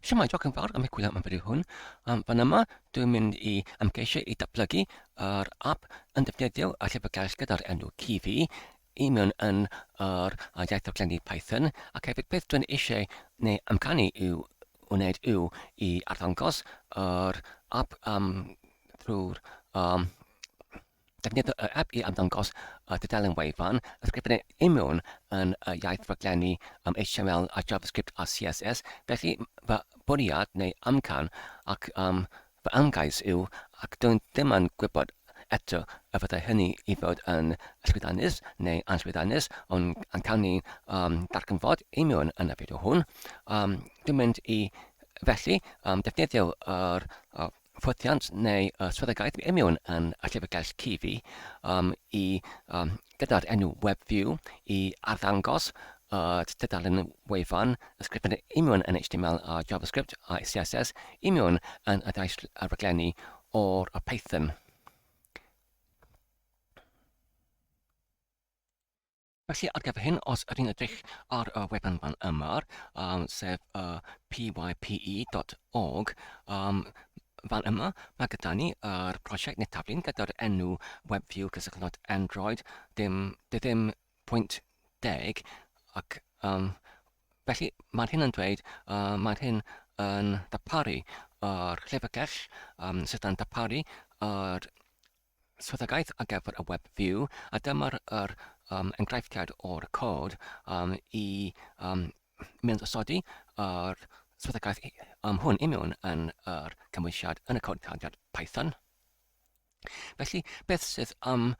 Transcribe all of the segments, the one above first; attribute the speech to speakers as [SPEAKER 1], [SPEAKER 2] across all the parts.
[SPEAKER 1] Siamai, diolch yn fawr am y gwyliau am fideo hwn. Um, fan yma, dwi'n mynd i ymgeisio i datblygu yr app yn defnyddio a llyfrgell gyda'r enw Kiwi i mewn yn yr uh, iaith o glenni Python ac hefyd beth dwi'n eisiau neu amcanu i'w wneud yw i arddangos yr app um, drwy'r um, Defnyddio yr ap i ymddangos y dudalen wefan, ysgrifennu i mewn yn y iaith rhaglenni am HTML a JavaScript a CSS, felly fy bwriad neu amcan ac um, fy ymgais yw, ac dw i'n ddim yn gwybod eto y fyddai hynny i fod yn llwyddiannus neu anllwyddiannus, ond yn cawn ni um, ddarganfod i mewn yn y fideo hwn. Um, dwi'n mynd i felly um, defnyddio yr uh, ffwythiant neu uh, swyddogaeth i mewn yn y llyfrgell CV um, i um, gyda'r enw WebView i arddangos y uh, tudalen wefan ysgrifennu i mewn yn HTML a JavaScript a CSS i mewn yn y daith raglenni o'r y Python. Felly ar gyfer hyn, os ydyn edrych ar y wefan fan yma, um, sef uh, pype.org, um, fan yma mae gyda ni yr prosiect neu taflun gyda'r enw WebView cysylltnod Android dim, dy ddim pwynt deg ac um, felly mae'r hyn yn dweud, uh, mae'r hyn yn daparu yr llyfrgell um, sydd yn daparu yr swyddogaeth ar gyfer y web view a dyma'r yr, um, enghreifftiad o'r cod um, i um, mynd osodi yr swyddogaeth um, hwn i mewn yn yr cymwysiad yn y cod taliad Python. Felly, beth sydd am,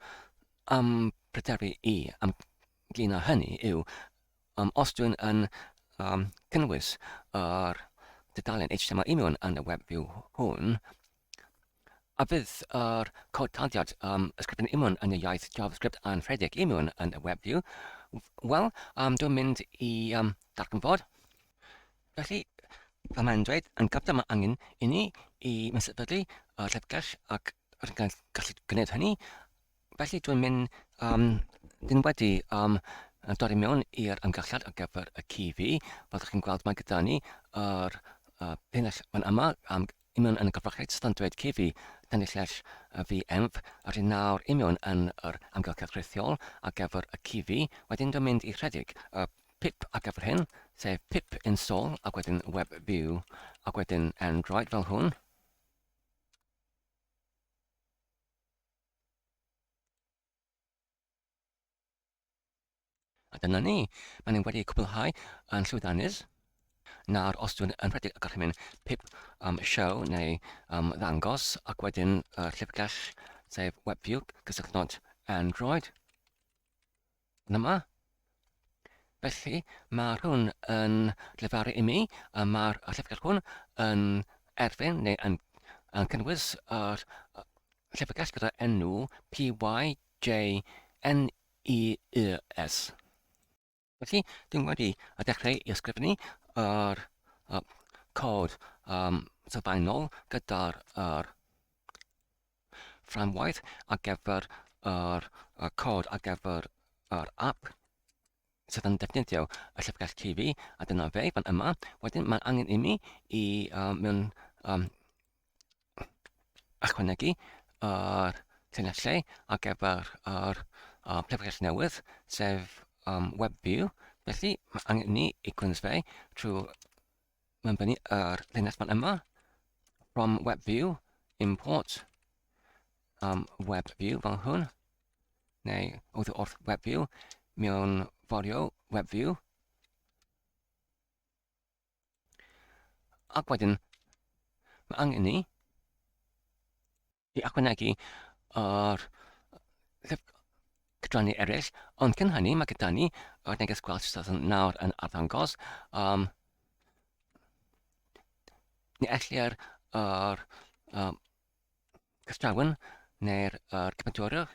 [SPEAKER 1] am pryderu i am glina hynny yw, um, os dwi'n yn um, cynnwys yr dudalen HTML i mewn yn y web view hwn, A fydd yr cod taliad um, ysgrifennu imiwn yn y iaith JavaScript yn rhedeg imiwn yn y WebView? Wel, um, dwi'n mynd i um, darganfod. Felly, fel mae'n dweud, yn gyfnod mae angen i ni i mesydlu y llyfrgell ac rydyn ni'n gallu gwneud hynny Felly, dwi'n mynd, um, dyn wedi um, dod i mewn i'r ymgylliad ar gyfer y CV. Fel ydych chi'n gweld, mae gyda ni yr uh, penell fan yma, um, imion yn y gyfrachiaid sydd yn dweud CV, dan illell uh, fi enf, yr hyn nawr imion yn yr amgylchedd rhithiol ar gyfer y CV. Wedyn dwi'n mynd i rhedeg y uh, pip ar gyfer hyn, sef pip install ac wedyn web view ac wedyn Android fel hwn. A dyna ni, mae ni wedi cwblhau yn llwyddiannus. Nawr, os dwi'n yn rhedeg y gorchymyn pip um, show neu um, ddangos ac wedyn y uh, llyfrgell sef WebView cysylltnod Android, Dyma. Felly, mae hwn yn llefaru i mi, a mae'r llyfrgell hwn yn erfyn neu yn, yn cynnwys yr llyfrgell gyda enw PYJNEES. Felly, dwi'n wedi a dechrau i ysgrifennu yr uh, cod um, sylfaenol gyda'r uh, fframwaith ar gyfer yr cod ar gyfer yr app sydd yn defnyddio y llyfrgell TV, a dyna fe fan yma. Wedyn mae'n angen i mi i uh, mewn um, ychwanegu yr uh, llinellau ar gyfer yr uh, llyfrgell newydd, sef um, WebView. Felly mae angen i ni i gwrs fe trwy mae'n bennu yr linell fan yma, from web view, import, um, web view fel hwn, neu wrth wrth web view, mewn forio web view. Ac wedyn, mae angen ni i ychwanegu o'r cydranu eraill, ond cyn hynny mae gyda ni o'r neges gwell sydd yn nawr yn arddangos um, ni ellir yr um, cystrawn neu'r er cymydwyrwch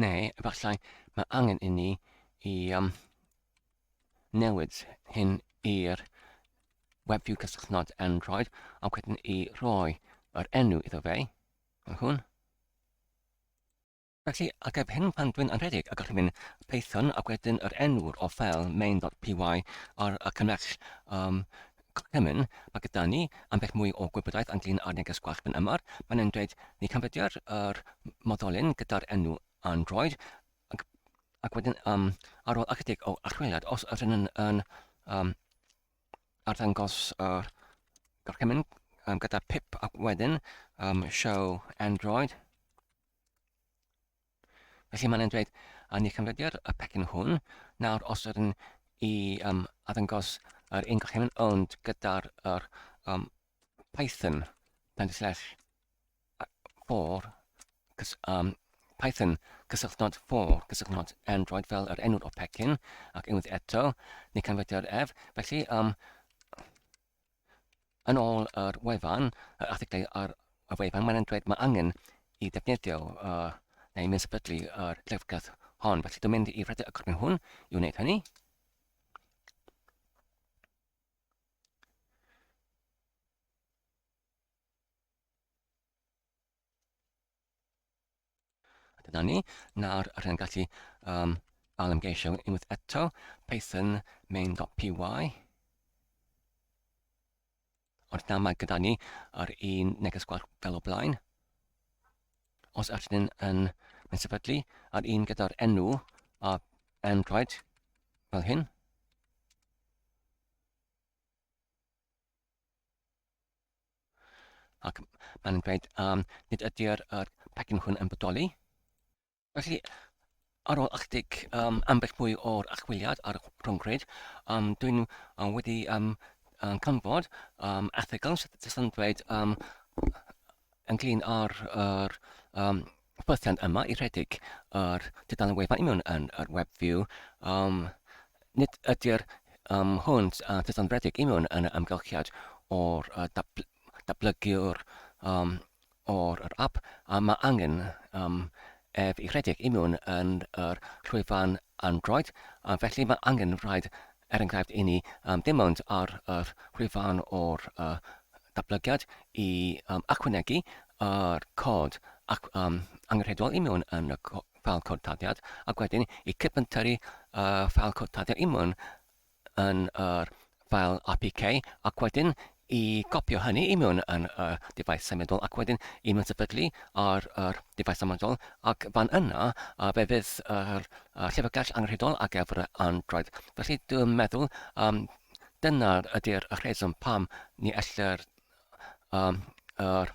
[SPEAKER 1] Neu, efallai, mae angen i ni i um, newid hyn i'r WebView cysylltnod Android a wedyn i roi yr enw iddo fe. Mae hwn. Felly, ateb hyn pan dwi'n yn rhedeg y gorchymyn Python ac wedyn yr enw'r o fel main.py ar y cymell um, gorchymyn, mae gyda ni ambell mwy o gwybodaeth ynglyn â'r neges gwallt fan yma. Mae'n yn dweud ni canfyddia'r er moddolyn gyda'r enw Android ac, ac wedyn um, ar ôl ychydig o archwiliad, os yr yn yn um, arddangos yr uh, gorchymyn um, gyda pip ac wedyn um, show Android Felly mae'n dweud, a ni cymrydio'r y pecyn hwn, nawr os ydyn i um, addangos yr un gochymyn ond gyda'r yr, um, Python, pen slash for, cys, um, Python, cysylltnod for, cysylltnod Android fel yr enw'r o pecyn, ac unwaith eto, ni cymrydio'r ef, felly um, Yn ôl yr wefan, yr erthyglau ar y wefan, mae'n dweud mae angen i ddefnyddio uh, neu mynd sefydlu yr uh, drefgaeth hon. Felly dwi'n mynd i redeg y corbyn hwn i wneud hynny. A dyna ni, nawr rydyn ni'n gallu um, alymgeisio unwaith eto, Python main.py. Ond nawr mae gyda ni yr un neges gwell fel o blaen. Os ydyn ni'n yn, yn sefydlu yr un gyda'r enw a Android fel hyn, Ac mae'n dweud, um, nid ydy'r er pecyn hwn yn bodoli. Felly, ar ôl ychydig um, ambell mwy o'r achwiliad ar y rhwngwyd, um, dwi'n um, wedi um, um, canfod um, erthygl sydd yn dweud um, ynglyn â'r er, um, Byddant yma i rhedeg yr dudalen wefan i mewn yn yr web view. Um, nid ydy'r um, hwnt a dudalen rhedeg i mewn yn y amgylchiad o'r uh, dabl dablygiwr um, o'r yr app a mae angen um, ef i rhedeg i mewn yn yr llwyfan Android, a felly mae angen rhaid, er enghraifft, i ni um, ddim ond ar yr wefan o'r uh, datblygiad i um, achwanegu yr cod ac, um, angenrheidiol i mewn yn y ffeil cod taddiad ac wedyn i cypynteri y uh, ffeil cod taddiad i mewn yn yr file APK ac wedyn i gopio hynny i mewn yn y defaid symudol ac wedyn i mewn sefydlu ar yr defaid symudol ac fan yna a fe fydd yr uh, llyfrgell angenrhydol ar gyfer y Android. Felly dwi'n meddwl um, dyna ydy'r rheswm pam ni ellir um, yr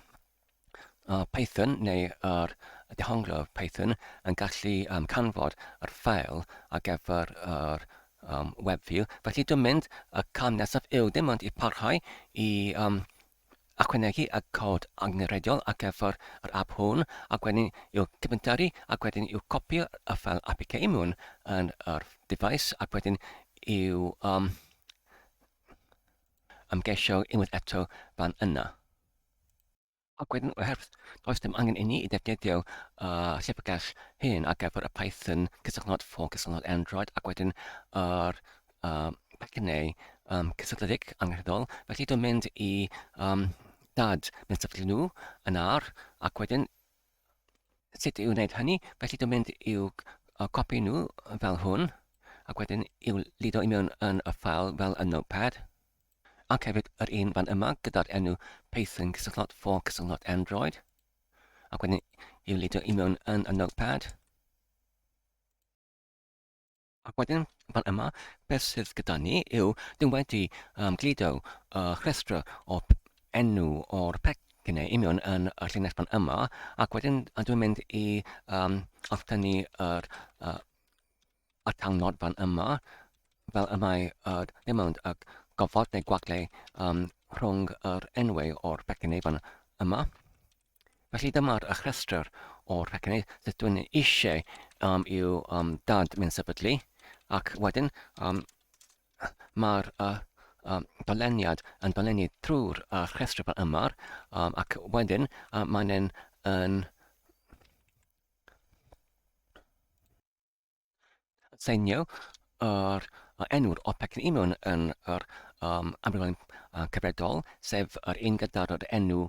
[SPEAKER 1] A Python neu ar dehonglo Python yn gallu um, canfod yr ffael ar gyfer yr um, web view. Felly dwi'n mynd, y cam nesaf yw dim ond i parhau i um, achwanegu y cod angenrheidiol ar gyfer yr app hwn, ac wedyn i'w cyfyntaru, ac wedyn i'w copio y ffael APK mewn yn yr device, ac wedyn i'w um, ymgeisio unwaith eto fan yna. Ac wedyn, oherwydd does dim angen i ni i ddefnyddio uh, llyfrgell hyn ar gyfer y Python cysylltnod ffôn, cysylltnod Android, ac wedyn yr uh, pecynau um, cysylltiedig angenrheidiol. Felly dwi'n mynd i um, dad mewn sefyllfa nhw yn ar, ac wedyn sut i'w wneud hynny. Felly dwi'n mynd i'w uh, copi nhw fel hwn, ac wedyn i'w lido i mewn yn y ffael fel y notepad. ac hefyd yr un fan yma gyda'r enw Python cysylltod for cysylltod Android ac wedyn i'w lidio i mewn yn y notepad ac wedyn fan yma beth sydd gyda ni yw dyn wedi um, glido uh, rhestr o enw o'r pecynau i mewn yn y llinell fan yma ac wedyn dwi'n mynd i um, alltynnu yr uh, y cyngor fan yma, fel y mae yr emownd y gofod neu gwagle um, rhwng yr enwau o'r pecynnau fan yma. Felly dyma'r rhestr o'r pecynau sydd dwi'n eisiau um, i'w um, dad mynd sefydlu ac wedyn um, mae'r uh, um, doleniad yn dolenu trwy'r uh, rhestr fan yma um, ac wedyn uh, mae'n yn seinio yr uh, enw'r OPEC yn union yn yr um, amrywiol uh, cyfredol, sef yr un gyda'r yr enw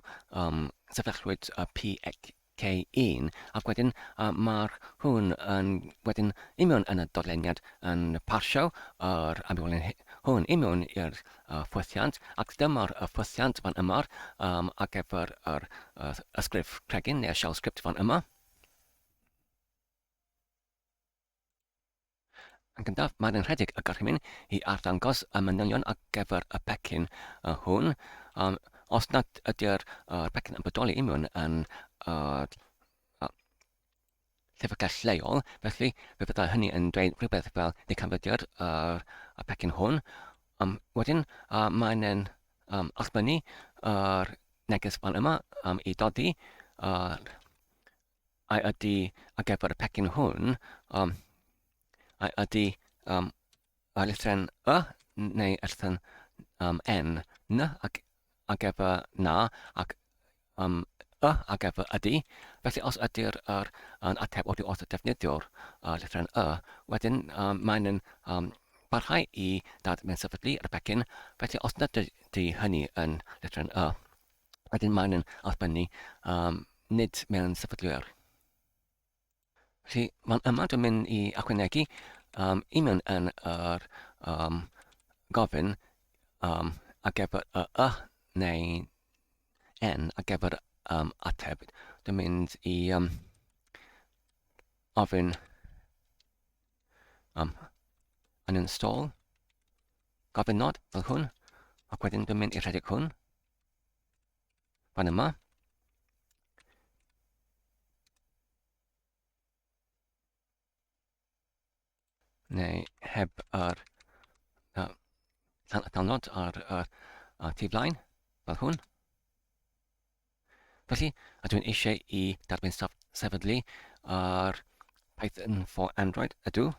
[SPEAKER 1] um, sefyllwyd uh, PK1, ac wedyn uh, mae'r hwn yn wedyn union yn y dodleniad yn parsio yr amrywiol hwn union i'r uh, ffwythiant, ac dyma'r uh, ffwythiant fan yma um, ar gyfer yr uh, ysgrif cregyn neu'r shell script fan yma. Yn gyntaf, mae'n yn rhedeg y gorchymyn i arddangos y manylion ar gyfer y pecyn hwn. Um, os nad ydy'r uh, pecyn yn bodoli i mewn yn uh, llyfrgell lleol, felly fe fyddai hynny yn dweud rhywbeth fel neu canfyddiad uh, y pecyn hwn. Um, wedyn, uh, mae'n yn um, allbynnu yr uh, neges fan yma um, i dodi uh, I ydy ar gyfer y pecyn hwn, um, I ydy um, y lythren y neu erthyn um, n, n ac ar gyfer na ac um, y ar gyfer ydy. Felly os ydy'r er, yn ateb oddi wrth y defnyddiwr uh, lythren y, wedyn um, mae'n um, barhau i dad mewn sefydlu ar y pecyn, felly os nad ydy hynny yn lythren y. Wedyn maen nhw'n arbynnu um, nid mewn sefydliwr. Felly mae'n yma dwi'n mynd i achwynegu um, i mewn yn yr um, gofyn um, a gefr y y neu n a gefr um, ateb. Dwi'n mynd i um, ofyn um, yn install gofyn nod fel hwn ac wedyn dwi'n mynd i rhedeg hwn Fan yma. Neu heb yr uh, download ar y uh, uh, tu flaen, fel hwn. Felly, a dwi'n eisiau i darbyn saf sefydlu ar Python for Android, ydw.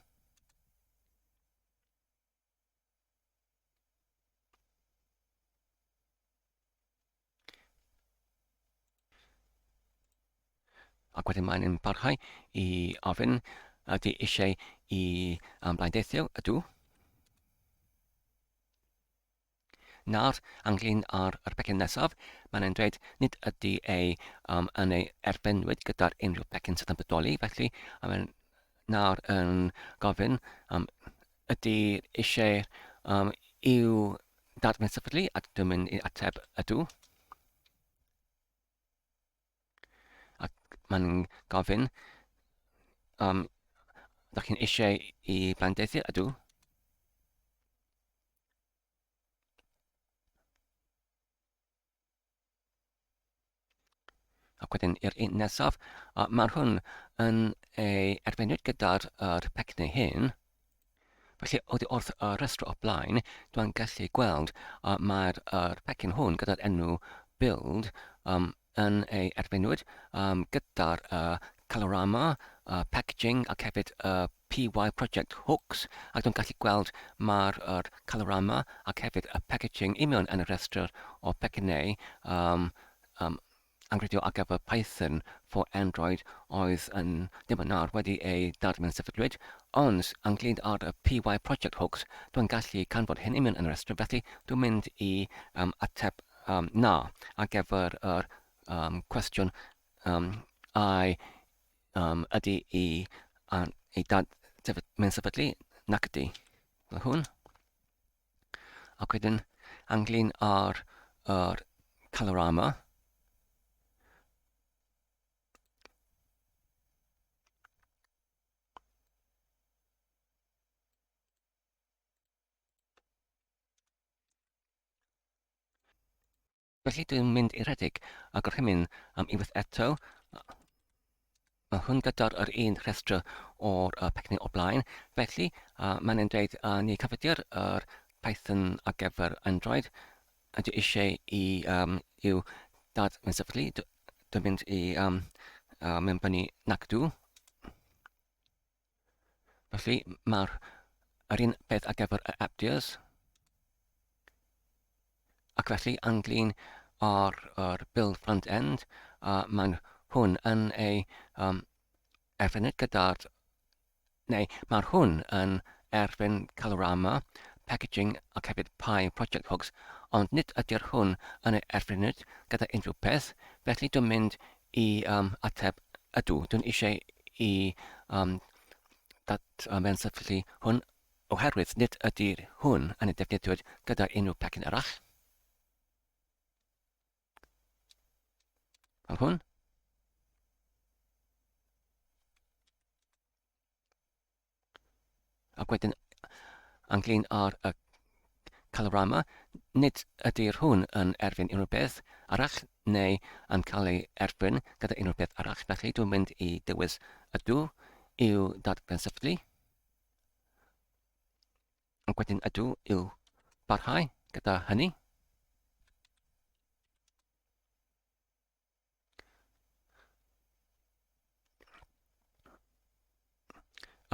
[SPEAKER 1] Ac wedyn mae'n yn parhau i ofyn ydy eisiau i am blaen deithio, ydw. Nawr, ynglyn â'r yr pecyn nesaf, mae'n e'n dweud nid ydy ei um, yn ei erbenwyd gyda'r unrhyw pecyn sydd yn bodoli, felly mae'n nawr yn gofyn um, ydy eisiau um, i'w dadfynsefydlu, a dwi'n mynd i ateb ydw. Ac mae'n gofyn, um, da chi'n eisiau i blandeithiau? Ydw. Ac wedyn i'r un nesaf, uh, mae hwn yn ei erfynwyd gyda'r er pecni hyn. Felly, oddi wrth y rhestr o blaen, dwi'n gallu gweld uh, mae'r uh, pecyn hwn gyda'r enw build um, yn ei erfynwyd um, gyda'r uh, colorama, uh, packaging ac hefyd y uh, PY Project Hooks ac dwi'n gallu gweld mae'r er calorama ac hefyd y packaging union yn y rhestr o pecynnau um, um, Anrhydedd ar gyfer Python for Android oedd yn ddiweddar wedi ei ddarllen Sefydlwyd ond ynglŷd â'r PY project hoax dwi'n gallu canfod hyn union yn yr ysgrif felly dwi'n mynd i um, ateb um, na ar gyfer yr um, cwestiwn um, ai um, ydy i um, ei dad sefyd, mynd sefydlu nac ydy. Hwn. Ac wedyn anglyn ar yr Colorama. Felly dwi'n mynd i redeg a gorchymyn am unwaith eto. Mae hwn gyda'r yr un rhestr o'r uh, pecynau o blaen. Felly, uh, mae'n ein dweud uh, ni cyfydio'r er Python ar gyfer Android. A dwi eisiau i um, i'w dad yn sefydlu. Dwi'n mynd i um, uh, mynd fyny nac dw. Felly mae'r yr un peth ar gyfer yr abdias. Ac felly anglyn ar yr build front end, a mae'n hwn yn ei um, erfyned gyda'r... Neu mae'r hwn yn erfyn Calorama, Packaging ac hefyd Pi Project Hooks, ond nid ydy'r hwn yn ei erfyned gyda unrhyw peth, felly dwi'n mynd i um, ateb, ydw, dwi'n eisiau i um, dat um, fe'n sefyllfu hwn oherwydd nid ydy hwn yn ei defnyddio gyda unrhyw pecyn arall. Fel hwn. Ac wedyn, ynglyn â'r uh, Colorama, nid ydy'r hwn yn erfyn unrhyw beth arall neu yn cael ei erfyn gyda unrhyw beth arall. Felly dwi'n mynd i dewis ydw i'w dadgransyflu. Ac wedyn ydw i'w barhau gyda hynny.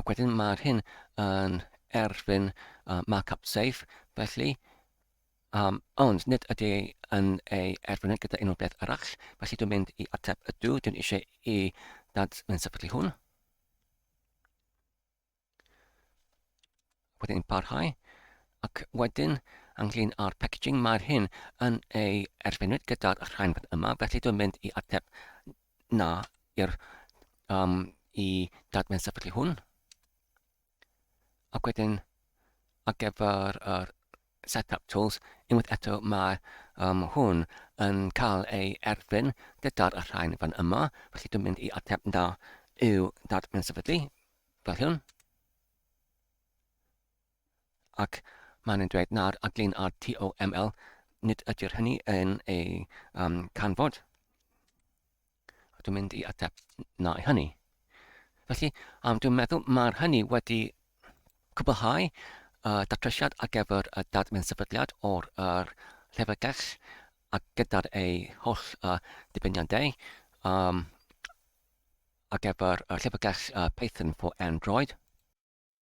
[SPEAKER 1] Ac wedyn mae'r hyn yn erfyn uh, markup safe, felly um, ond nid ydy yn ei erfyn gyda unrhyw beth arall, felly dwi'n mynd i ateb ydw, dwi'n eisiau i dad yn sefydlu hwn. wedyn yn parhau ac wedyn ynglyn â'r packaging mae'r hyn yn ei erfynwyd gyda'r rhain yma felly dwi'n mynd i ateb na i'r um, i dadmen sefydlu hwn ac wedyn ar gyfer yr Setup Tools, unwaith eto mae um, hwn yn cael ei erfyn gyda'r rhain fan yma, felly dwi'n mynd i ateb na yw dadfyn sefydlu, fel hyn. Ac mae'n yn dweud na'r aglun ar TOML, nid ydy'r hynny yn ei um, canfod. A dwi'n mynd i ateb na i hynny. Felly, um, dwi'n meddwl mae'r hynny wedi cwblhau uh, datrysiad ar gyfer y dadfynd sefydliad o'r er, llyfrgell a gyda'r ei holl uh, dibeniadau um, ar gyfer y llyfrgell uh, Python for Android.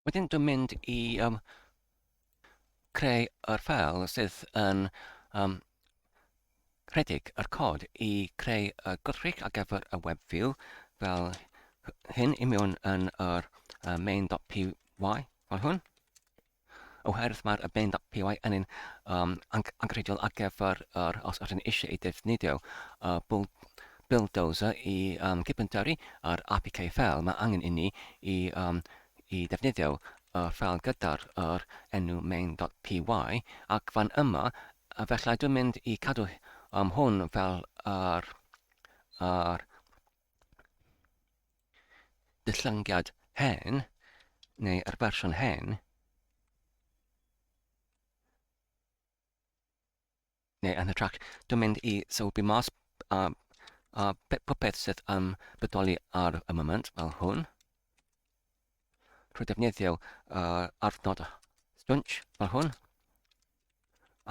[SPEAKER 1] Wedyn dwi'n mynd i um, creu yr ffeil sydd yn um, rhedeg yr cod i creu y gwrthrych ar gyfer y web view fel hyn i mewn yn yr uh, main.py fel hwn oherwydd mae'r y bend up PY yn un um, angrediol ar gyfer yr, os ydyn eisiau ei defnyddio, uh, bwl Buildozer i um, gypyntari ar APK fel mae angen inni i, um, i ddefnyddio y fel gyda'r yr enw main.py ac fan yma felly dwi'n mynd i cadw um, hwn fel yr, yr dillyngiad hen neu yr fersiwn hen neu yn hytrach, dwi'n mynd i sylwi mas a, a popeth sydd yn bodoli ar y moment, fel hwn. Rwy'n defnyddio uh, arfnod stwnch fel hwn.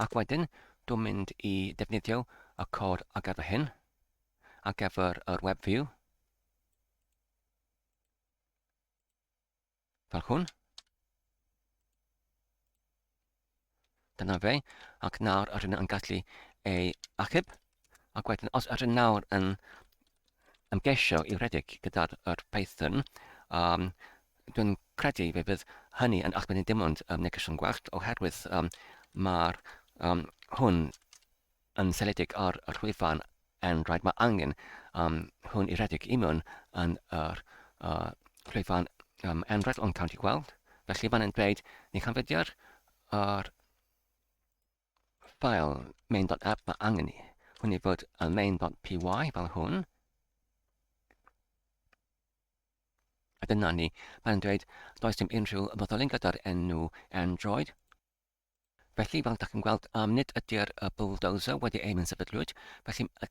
[SPEAKER 1] Ac wedyn, dwi'n mynd i defnyddio y cod ar gyfer hyn, ar gyfer yr web view. fel hwn. Dyna fe, ac nawr yr hyn yn gallu ei achub. Ac wedyn, os yr hyn nawr yn ymgesio i redeg gyda'r er Python, um, dwi'n credu fe fydd hynny yn achub ni dim ond um, negeseuon gwellt, oherwydd um, mae'r um, hwn yn seiliedig ar yr wefan Android, mae angen um, hwn i redeg i mewn yn yr uh, wefan um, Android, ond cawn ti gweld. Felly fan yn dweud, ni canfyddiad yr ffael main.app mae angen i hwn i fod yn main.py fel hwn. A dyna ni, mae'n dweud, does dim unrhyw fodolyn gyda'r enw Android, Felly, fel da chi'n gweld, um, nid ydy'r uh, bulldozer wedi ei mensefydlwyd, felly y,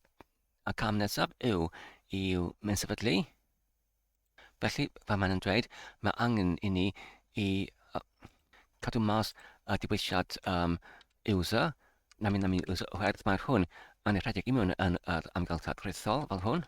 [SPEAKER 1] y cam nesaf yw i'w mensefydlu. Felly, fe mae'n yn dweud, mae angen i ni i uh, cadw mas y uh, diwysiad um, user, na mynd am un user oherwydd mae'r hwn yn ei rhedeg i mewn yn yr amgylchedd rhithol fel hwn.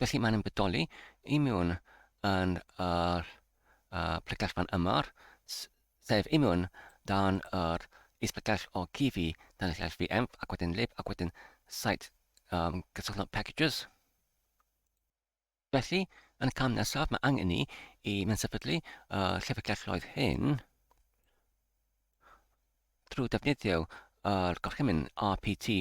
[SPEAKER 1] Felly mae'n bodoli i mewn yn yr uh, plyglell fan yma, sef i mewn dan yr isplyglell o GV, dan y llall VMF, ac wedyn lib, ac wedyn site um, gysylltwch packages. Felly, yn y cam nesaf, mae angen ni i mynd sefydlu y uh, llyfrgelloedd hyn. drwy ddefnyddio yr gorchymyn rpt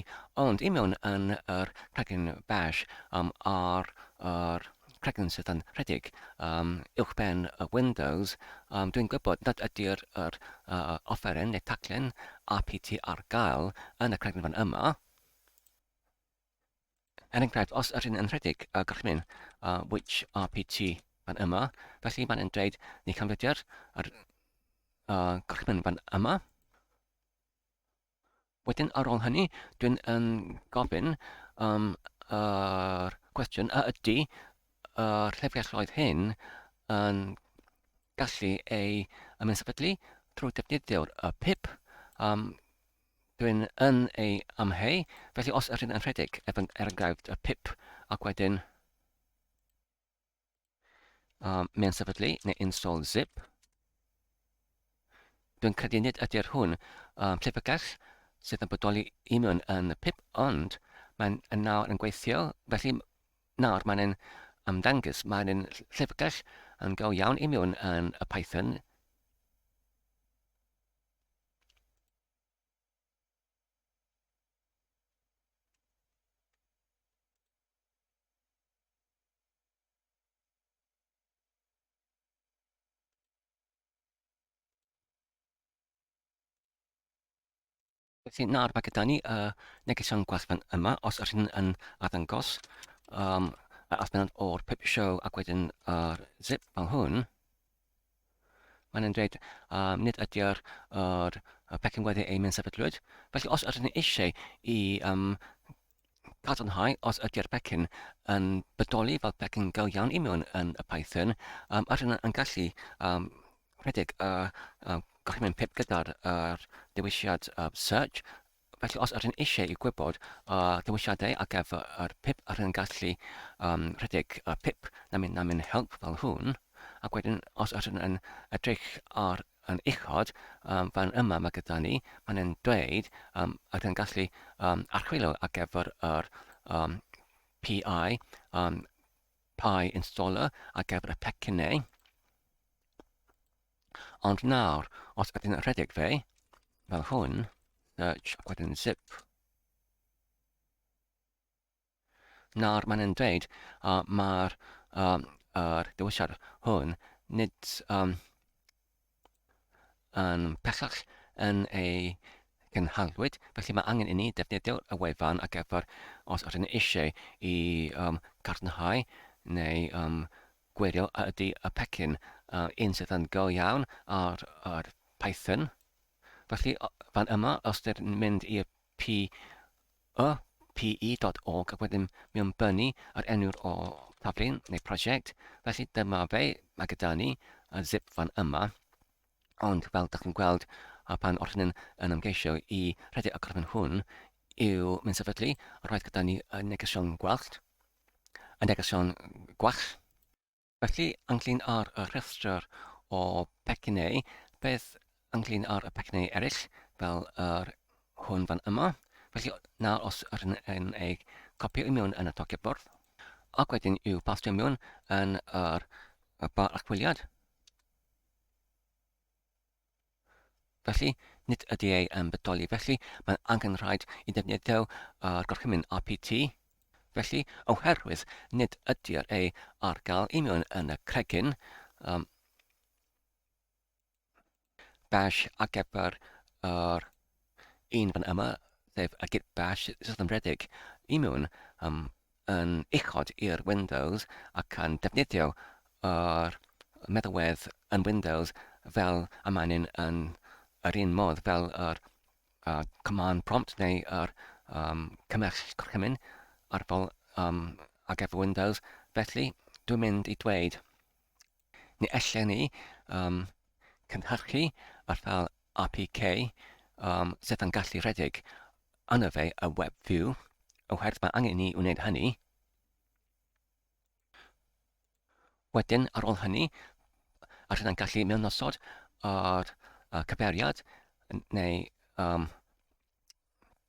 [SPEAKER 1] ond i mewn yn yr cregyn bash um, ar yr cregyn sydd yn rhedeg um, uwchben y Windows. Um, Dwi'n gwybod nad ydy'r yr, uh, offeren neu taglen rpt ar gael yn y cregyn fan yma. er enghraifft, os yr hyn yn rhedeg y gorchymyn uh, which RPT fan yma, felly mae'n yn dweud ni canfyddiad yr uh, gorchymyn fan yma. Wedyn ar ôl hynny, dwi'n yn gofyn um, yr uh, cwestiwn a ydy yr uh, llefrialloedd hyn yn gallu ei ymwneud sefydlu trwy defnyddio'r uh, PIP um, Rhyn yn ei amheu, felly os yrrhyn yn rhedeg ef yn ergaifd y pip, ac wedyn um, mae'n sefydlu neu install zip. Dwi'n credu nid ydy'r hwn um, llyfrgell sydd yn bodoli i mewn yn y pip, ond mae'n yn nawr yn gweithio, felly nawr mae'n yn ymddangys, mae'n yn llyfrgell yn go iawn i mewn yn y Python Felly nawr mae gyda ni y negeseuon gwerthen yma, os ydych chi'n yn arddangos um, yr adfynod o'r pip show ac wedyn yr zip fel hwn. Maen nhw'n dweud, um, nid ydy'r yr, y pecyn weddi ein sefydlwyd. Felly, os ydyn ni eisiau i um, cadarnhau os ydy'r pecyn yn bodoli fel pecyn go iawn i mewn yn y Python, um, ydyn nhw'n gallu um, rhedeg y uh, gorchymyn pip gyda'r uh, dewisiad uh, search Felly os ydyn eisiau i gwybod y dewisiadau ar gyfer yr pip a rhyn gallu um, rhedeg y pip na mynd na mynd help fel hwn, ac wedyn os ydyn yn edrych ar yn uchod, um, fan yma mae gyda ni, mae'n yn dweud um, ydyn gallu um, archwilio ar gyfer yr um, PI, um, PI installer ar gyfer y pecynnau. Ond nawr, os ydyn yn rhedeg fe, fel hwn, search ac wedyn zip. Nawr mae'n yn dweud uh, mae'r um, er dewisiad hwn nid um, yn pellach yn ei gynhalwyd, felly mae angen i ni defnyddio'r y wefan ac efo'r os ydyn eisiau i um, garnhau neu um, Gwirio a ydy y pecyn un sydd yn go iawn ar yr Python. Felly fan yma, os dyn ni'n mynd i'r pi, y pe.org ac wedyn mi o'n bynnu ar enw'r o taflun neu prosiect, felly dyma fe, mae gyda ni y zip fan yma. Ond fel dych chi'n gweld, a pan o'ch yn ymgeisio i rhedeg y gorffen hwn, yw mynd sefydlu, roedd gyda ni y negesion gwellt, yn negesion gwell. Felly, ynglyn â'r y rhestr o pecynnau, beth ynglyn â'r y pecynnau eraill, fel yr hwn fan yma? Felly, nawr os rydyn yn ei copio i mewn yn y tocyn bwrdd, ac wedyn i'w pastio mewn yn yr y bar archwiliad, Felly, nid ydy ei yn bodoli, felly mae'n angen rhaid i ddefnyddio uh, gorchymyn RPT. Felly, oherwydd nid ydy'r ei ar gael i mewn yn y cregyn, um, bash ar gyfer yr Yn fan yma, sef y git bash sysymredig, imiwn um, yn uchod i'r Windows ac yn defnyddio yr meddalwedd yn Windows fel y maen nhw'n yn yr un modd fel yr uh, command prompt neu yr um, cymell gorchymyn arfol um, ar gyfer Windows. Felly, dwi'n mynd i dweud Ni allen ni um, cynhyrchu ar fel APK um, sydd yn gallu rhedeg yna fe y web view, oherwydd mae angen ni wneud hynny. Wedyn, ar ôl hynny, a rydyn gallu mewnnosod ar uh, cyfeiriad neu um,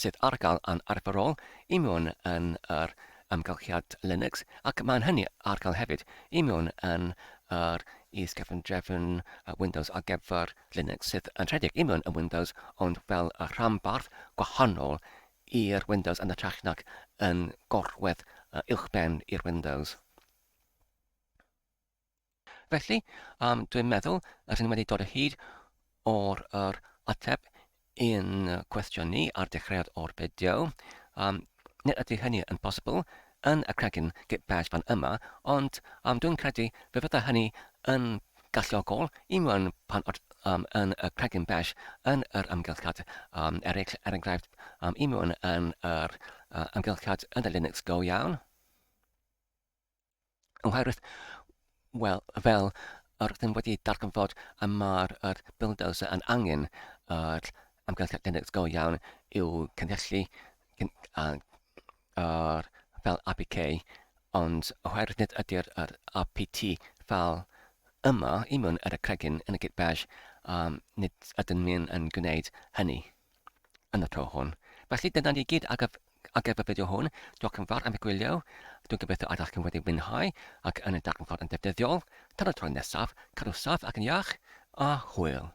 [SPEAKER 1] sydd ar gael yn arferol i mewn yn yr amgylchiad Linux ac mae'n hynny ar gael hefyd i mewn yn yr is-gefndrefn Windows ar gyfer Linux sydd yn rhedeg i mewn yn Windows ond fel y rhanbarth gwahanol i'r Windows yn ytrach nac yn gorwedd uwchben i'r Windows. Felly, um, dwi'n meddwl rydyn ni wedi dod o hyd o'r er, ateb i'n cwestiwn ni ar dechreuad o'r fideo. Um, nid ydy hynny yn bosibl yn y cregyn git bash fan yma, ond um, dwi'n credu fe fydda hynny yn galluogol i mewn pan o'r um, yn y cregyn bash yn yr ymgylchad um, eraill, er enghraifft, um, i mewn yn yr uh, ymgylchad yn y Linux go iawn. Oherwydd, wel, fel yr ydym wedi darganfod y mae'r er bulldozer yn angen yr er amgylchedd genedlaeth go iawn i'w cynhyllu a'r er, fel APK, ond oherwydd nid ydy'r er APT fel yma i mewn ar y cregyn yn y git bash, um, nid ydym ni'n yn gwneud hynny. yn y tro hwn. Felly dyna ni gyd ar gyf- ar gyfer y fideo hwn. Diolch yn fawr am y gwylio. Dwi'n gobeithio ydych chi'n wedi mwynhau ac yn y darnfod yn ddefnyddiol. Tan y tro nesaf, cadw saff ac yn iach, a hwyl!